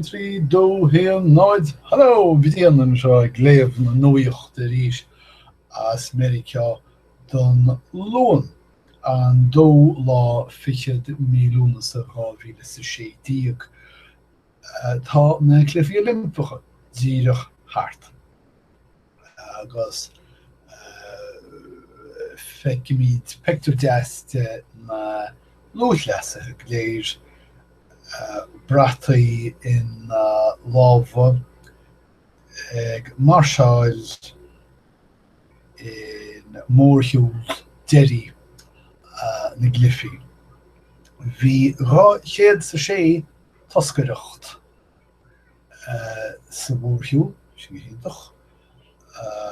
trí dó haon náid hello! Brian anseo ag léamh na nuachta arís as Meiriceá don Luan an dóú lá fichead mí Lúnasa dhá mhíle is a sé déag. Tá na Cluichí Oilimpeacha díreach thart. agus feicimid pictiúr deas de na lúthchleasaithe go léir, brataí ina lámha, ag máirseáil i mórshiúl deiridh na gcluichí. Bhí 206 toscaireacht sa mhórshiúl, sin go hiontach,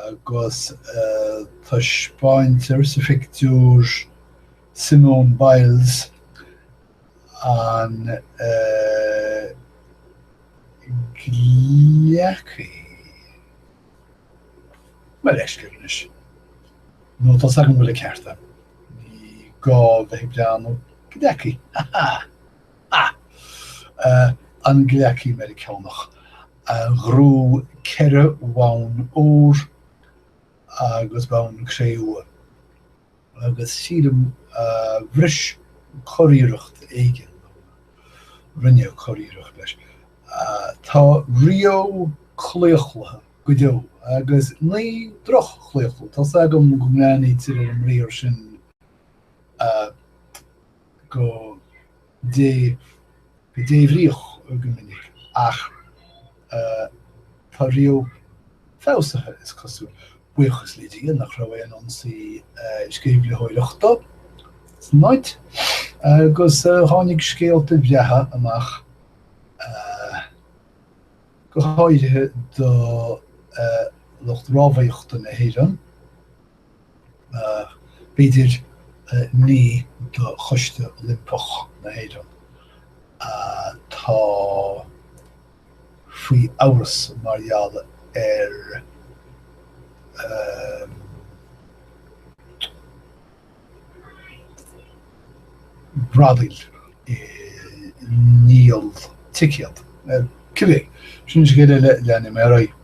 agus taispeáintear sa phictiúr Simone Biles, an gleacaí. Mo leithscéal anois. Nó tá 's agam go bhfuil an ceart agam. Ní gá bheith ag breathnú. Gleacaí. Aha! Ah! An gleacaí Meiriceánach a ghnóthaigh ceithre bhonn óir agus bonn cré-umha, agus sílim bhris curiarracht éigin, nó rinneadh curiarracht leis. Tá Rio claochlaithe go deo, agus ní droch-chlaochlú, tá's agam go mbreathnaítear ar an mbriathar sin go débhríoch go minic, ach tá Rio feabhsaithe, is cosúil, buíochas le Dia nach raibh aon ionsaí sceimhlitheoireachta san áit, agus tháinig scéalta bhreátha amach, go háirithe do lucht rámhaíochta na hÉireann. B'fhéidir ní do Choiste Oilimpeach na hÉireann atá faoi amhras mar gheall ar bhradaíl i ndíol ticéad. Cibé, sin scéal eile, leanaim ar aghaidh.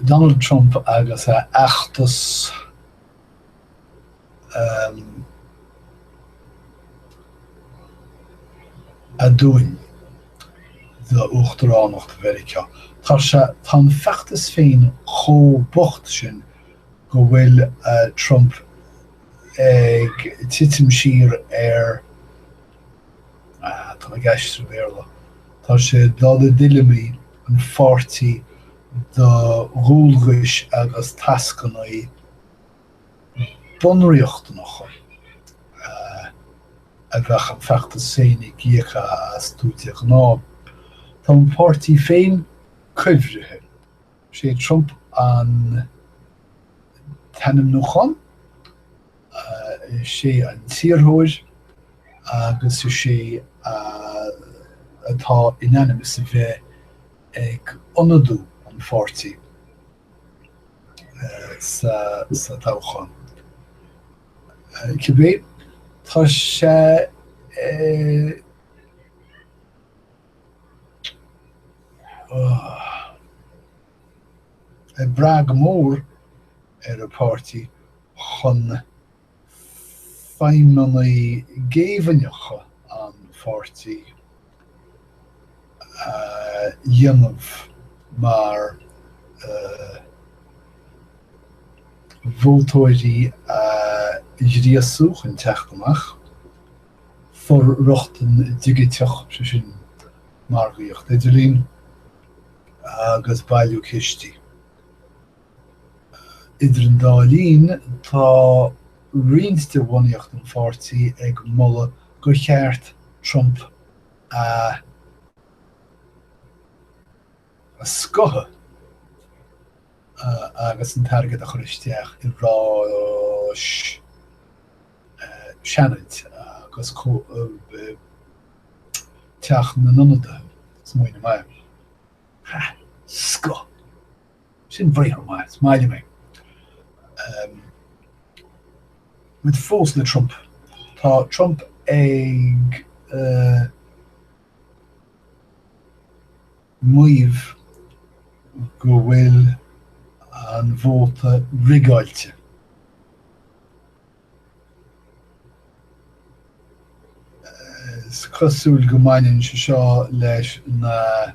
Donald Trump agus a fheachtas aduain d'uachtaránacht Mheiriceá. Tá sé, tá an feachtas féin chomh bocht sin go bhfuil Trump ag titim siar ar, Tá na Gaeil ag aistriú Béarla. Tá sé ag dul i dtuilleamaí an pháirtí do dhualgais agus tascanna bunriachtanacha a bheadh an feachtas féin ag íoc astu de ghnáth. Tá an páirtí féin cuibhrithe. Is é Trump an t-ainmniúchán. Is é an t-iarrthóir agus is é atá in ainm is a bheith ag ionadú an pháirtí sa toghchán. Cibé, tá sé ag brath go mór ar a pháirtí. chun feidhmeanna géibhinneacha an pháirtí a dhéanamh mar vótóirí a ghríosú chun teacht amach, for-rochtain dhigiteach, sé sin margaíocht idirlín, agus bailiú cistí. Idir an dá linn, tá roinnt de bhunaíocht an pháirtí ag moladh gur cheart Trump a scoitheadh agus an t-airgead a chur isteach i ráis Seanaid agus Teach na nIonadaithe, smaoineamh maith. Scoith. Sin briathar maith, is maith liom é. Bhuel, fós le Trump. Tá Trump ag maíomh go bhfuil an vóta rigeáilte. Is cosúil go mbaineann sé seo leis na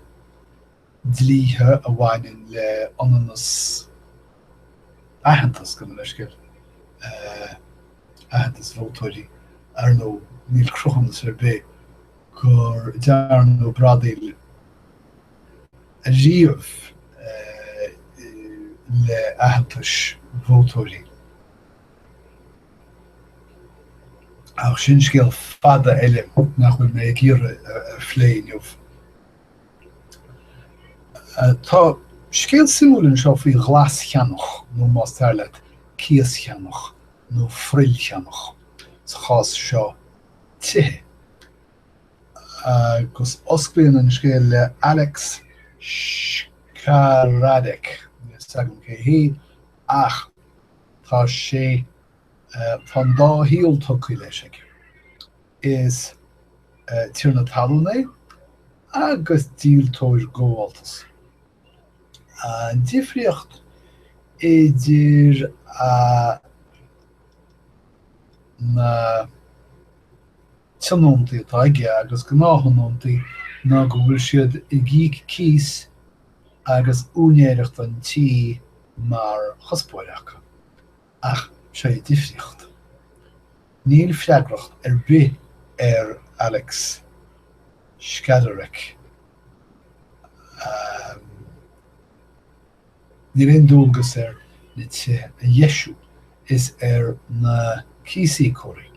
dlíthe a bhaineann le ionannas aitheantas, gabh mo leithscéal, aitheantas vótóirí, ar ndóigh, níl cruthúnas ar bith gur dearnadh bradaíl riamh le aitheantais vótóirí. Ach sin scéal fada eile nach bhfuil mé ag iarraidh a phlé inniu. Tá scéal suimiúil anseo faoi ghlascheannach, nó más fearr leat, cíoscheannach, nó frill cheannach, sa chás seo tithe, agus osclaíonn an scéal le Alex Skaradek, níl a fhios agam cé hé, ach tá sé, tá an dá shaol tabhartha leis aige. Is tiarna talún é agus díoltóir gabháltais. An difríocht idir na tionóntaí atá aige agus gnáththionóntaí ná go bhfuil siad ag íoc cíos agus úinéireacht an tí mar chuspóir acu. Ach sé an difríocht. Níl freagracht ar bith ar Alex Skaradek. Níl aon dualgas air na tithe a dheisiú. Is ar na cíosíocóirí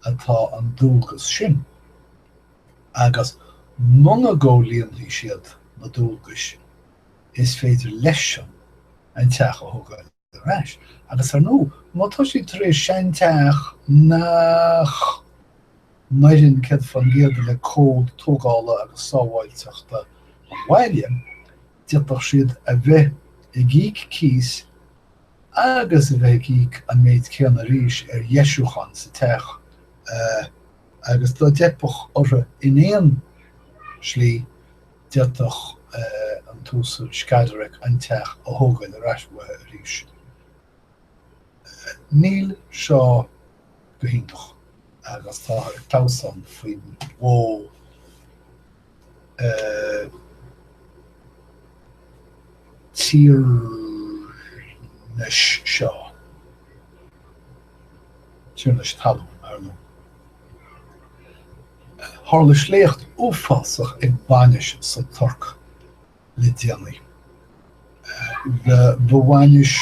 atá an dualgas sin. Agus muna gcomhlíonfaidh siad na dualgais, is féidir leis-san an teach a thógáil ar ais. Agus, ar ndóigh, má tá siad tar éis seanteach nach n-oireann céad fán gcéad le cód tógála agus sábháilteachta an bhaile, d'fhéadfadh siad a bheith ag íoc cíos agus a bheith ag íoc an méid céanna arís ar dheisiúcháin sa teach agus dá dteipfeadh orthu in aon slí, d'fhéadfadh an tUasal Skaradek an teach a thógáil ar ais uathu arís. Níl seo go hiontach agus táthar ag clamhsán faoin mhodh tiarnais seo, tiarnas talún, ar ndóigh. Tharla sléacht uafásach ag bainis sa Tuirc le déanaí. Ba bhainis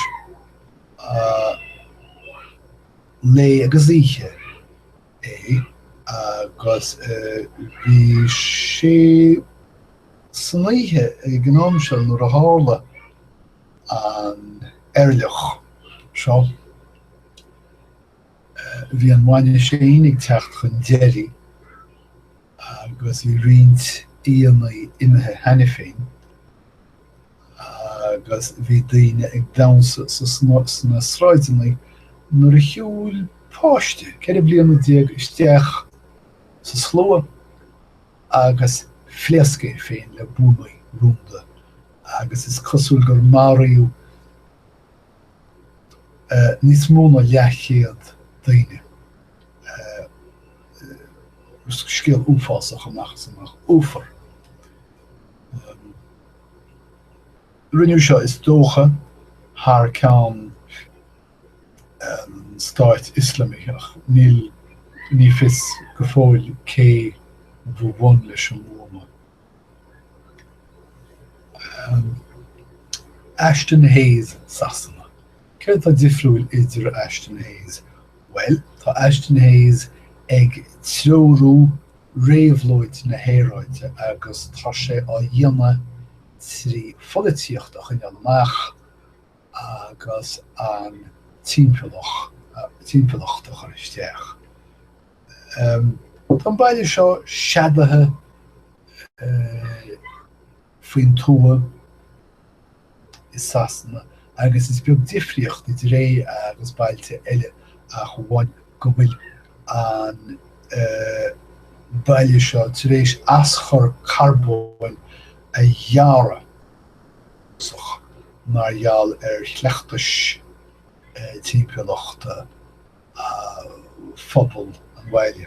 lae agus oíche é agus bhí sé san oíche ag an am seo nuair a tharla an eirleach seo. Bhí an bhainis sin ag teacht chun deiridh agus bhí roinnt aíonna imithe cheana féin agus bhí daoine ag damhsa sna sráideanna nuair a shiúil páiste ceithre bliana déag isteach sa slua agus phléasc é féin le buama rúnda agus is cosúil gur maraíodh níos mó ná leathchéad daoine. scéal uafásach amach is amach. Uafar. Rinneadh seo is dócha thar ceann Stát Ioslamach. Níl, ní fios go fóill cé bhí i mbun leis an mbuama. Ashton Hayes Sasana. Céard atá difriúil i dtaobh Ashton Hayes? Bhuel, tá Ashton Hayes ag treorú réabhlóid na haeráide agus tá sé á dhéanamh trí pholaitíocht a choinneáil amach agus an timpeallacht a chur isteach. Tá an baile seo neadaithe faoin tuath i Sasana agus is beag difríocht idir é agus bailte eile ach amháin go bhfuil an baile seo tar éis aschur carbóin a ghearradh mar gheall ar chleachtais timpeallachta. phobal an bhaile.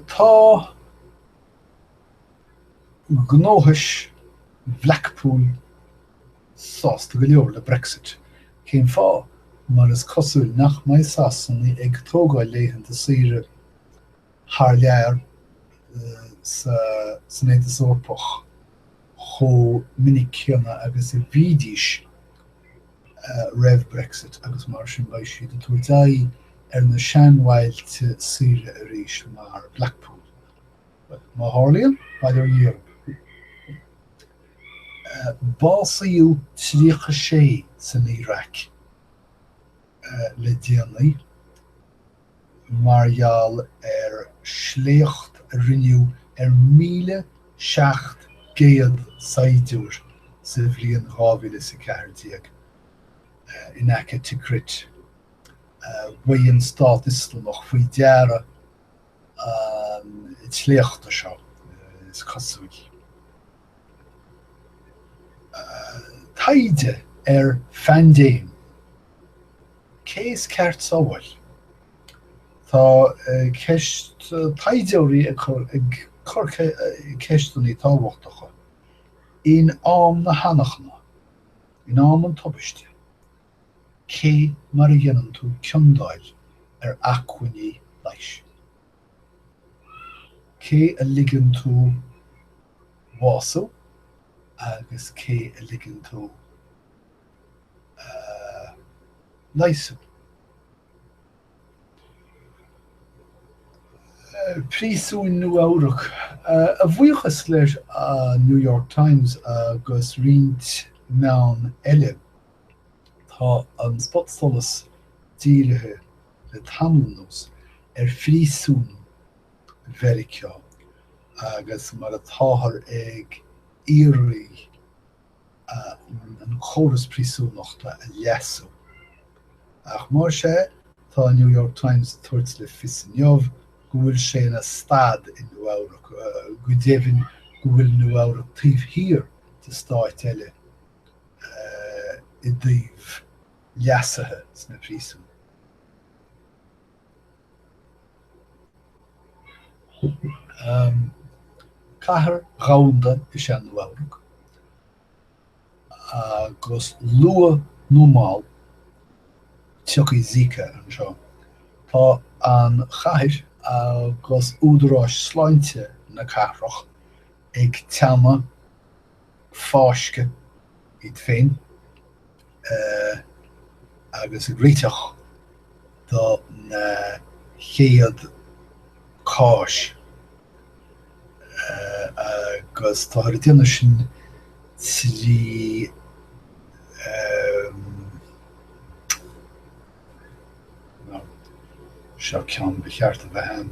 Tá gnóthais Bhlackpool sásta go leor le Brexit. Cén fáth? Mar is cosúil nach mbeidh Sasanaigh ag tógáil laethanta saoire thar lear san Aontas Eorpach chomh minic céanna agus a bhídís. roimh Brexit agus mar sin beidh siad ag tabhairt aghaidh ar na seanbhailte saoire arís mar Blackpool. Bhuel, má tharlaíonn, bye dear Europe. Básaíodh 36 san Iaráic le déanaí mar gheall ar sléacht a rinneadh ar 1,700 saighdiúir sa bhliain dhá mhíle is a ceathair déag in aice Tikrit, ba é an Stát Ioslamach faoi deara an tsléachta seo, is cosúil. Taighde ar phaindéim. Cé is ceart sábháil? Tá ceist taighdeoirí ag cur ceisteannaí tábhachtacha. In am na hanachana, in am an tubaiste, cé mar a dhéanann tú ciondáil ar acmhainní leighis? Cé a ligeann tú a bhású agus cé a ligeann tú. leigheas. Príosúin Nua-Eabhrac, a bhuíochas le an New York Times agus roinnt meáin eile, tá an spotsolas dírithe le tamall anuas ar phríosúin Mheiriceá agus mar atáthar ag iarraidh an córas príosúnachta a leasú. Ach más ea, tá an New York Times ag tabhairt le fios inniu go bhfuil sé ina stad i Nua-Eabhrac, go deimhin go bhfuil Nua-Eabhrac taobh thiar de stáit eile i dtaobh leasuithe sna príosúin. Cathair dhomhanda is ea Nua-Eabhrac, agus luath nó mall tiocfaidh Zika anseo. Tá an chathair agus údaráis sláinte na cathrach ag teannadh fáisceadh, iad féin agus ag réiteach do na chéad cháis agus táthar ag déanamh sin trí seo ceann ba cheart a bheith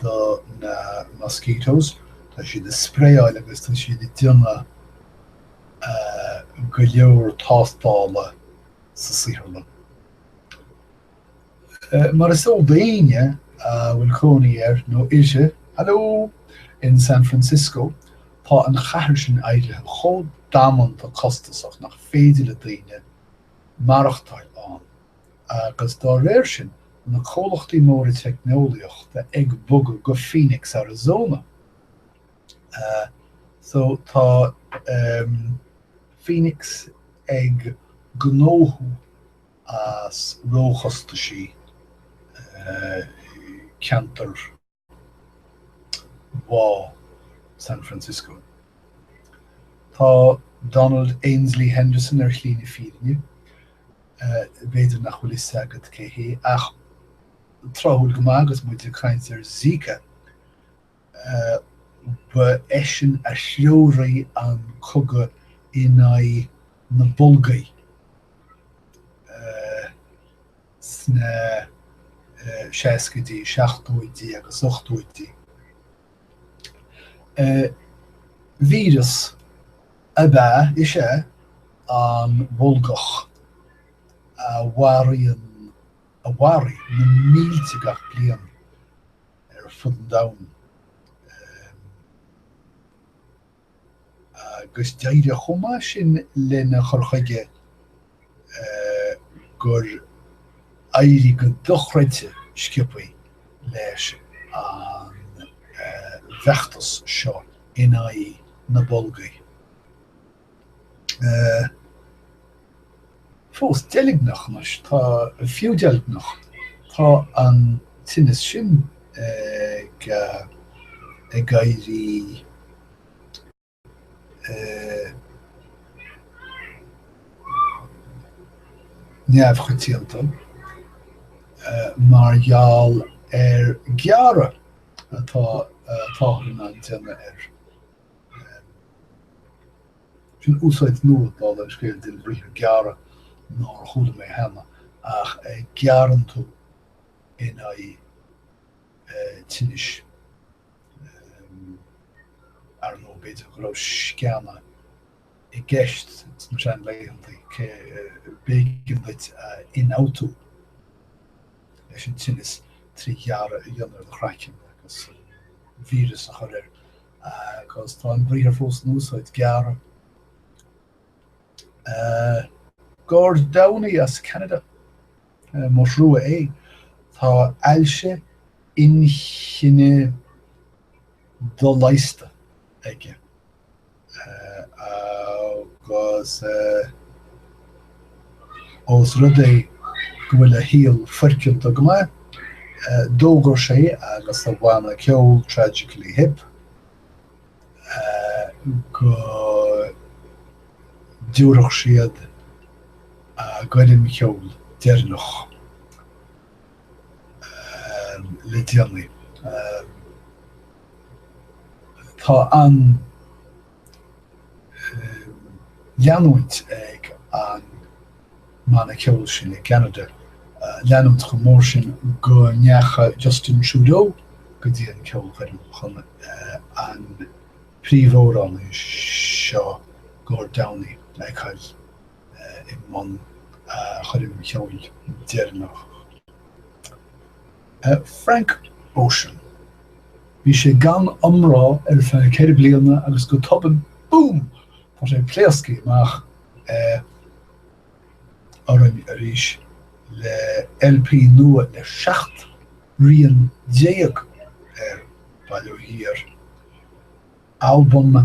do na mosquitoes. Tá siad ag spraeáil agus tá siad ag déanamh go leor tástála sa saotharlann. Mar is eol d'aoinne a bhfuil cónaí air nó uirthi, hello! in San Francisco, tá an chathair sin éirithe chomh damanta costasach nach féidir le daoine maireachtáil ann. Agus dá réir sin, na comhlachtaí móra teicneolaíochta ag bogadh go Phoenix Arizona. So tá Phoenix ag gnóthú as róchostaisí ceantar. Bhá San Francisco. Tá Donald Ainsley Henderson ar shlí na fírinne. B'fhéidir nach bhfuil fhios agat cé hé, ach tráthúil go maith agus muid ag caint ar Zika, ba eisean a threoraigh an cogadh in aghaidh na bolgaí. sna seascaidí, seachtóidí agus ochtóidí. Víreas ab ea, is ea, an bholgach a mharaíonn, a mharaigh na mílte gach bliain ar fud an domhain. agus d'éirigh chomh maith sin lena chur chuige gur éirigh go dochreidte sciobthaí leis an bhfeachtas seo in aghaidh na bolgaí. Fós deilgneach, anois tá fiú deilgneach, tá an tinneas sin ag éirí neamhchoitianta mar gheall ar ghearradh atáthar in ann déanamh air. Sin úsáid nua, dála an scéil, den bhriathar gearradh nár chuala mé cheana, ach gearrann tú in aghaidh tinnis, ar ndóigh, b'fhéidir go raibh sceana i gceist sna seanlaethanta, b'éigean duit a ionfhabhtú leis an tinneas trí ghearradh a dhéanamh ar do chraiceann agus víreas a chur air. Agus tá an briathar fós in úsáid, gearradh. Gord Downey as Ceanada, mo thrua é. Tá ailse inchinne doleigheasta aige agus. Ós rud é go bhfuil a shaol foirceanta go maith, d'fhógair sé agus a bhanna ceoil Tragically Hip go dtabharfadh siad a gcoirm cheoil deireanach le déanaí. Tá an leanúint ag an mbanna ceoil sin i gCeanada, leanúint chomh mór sin go ndeacha Justin Trudeau go dtí an ceolchoirm chun an príomhamhránaí seo, Gord Downie, a fheiceáil i mbun a choirm cheoil deireanach. Frank Ocean. Bhí sé gan iomrá ar feadh ceithre bliana agus go tobann, boom! tá sé ag pléascadh amach orainn arís le LP nua le seacht rian déag air, bail ó Dhia air, albam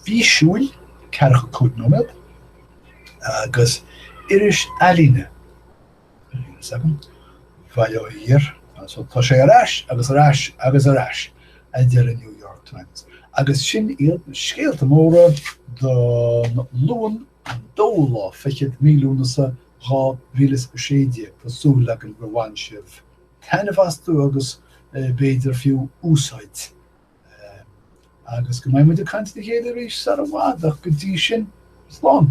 físiúil, ceathracha cúig nóiméad, agus iris ealaíne bail ó Dhia air, so tá sé ar ais agus ar ais agus ar ais, a deir an New York Times. Agus sin iad na scéalta móra don Luan an dóú lá fichead, mí Lúnasa, dhá mhíle is a sé déag. Tá súil againn gur bhain sibh taitneamh astu agus b'fhéidir fiú úsáid. Agus go mbeidh muid ag caint le chéile arís sar i bhfad ach go dtí sin, slán.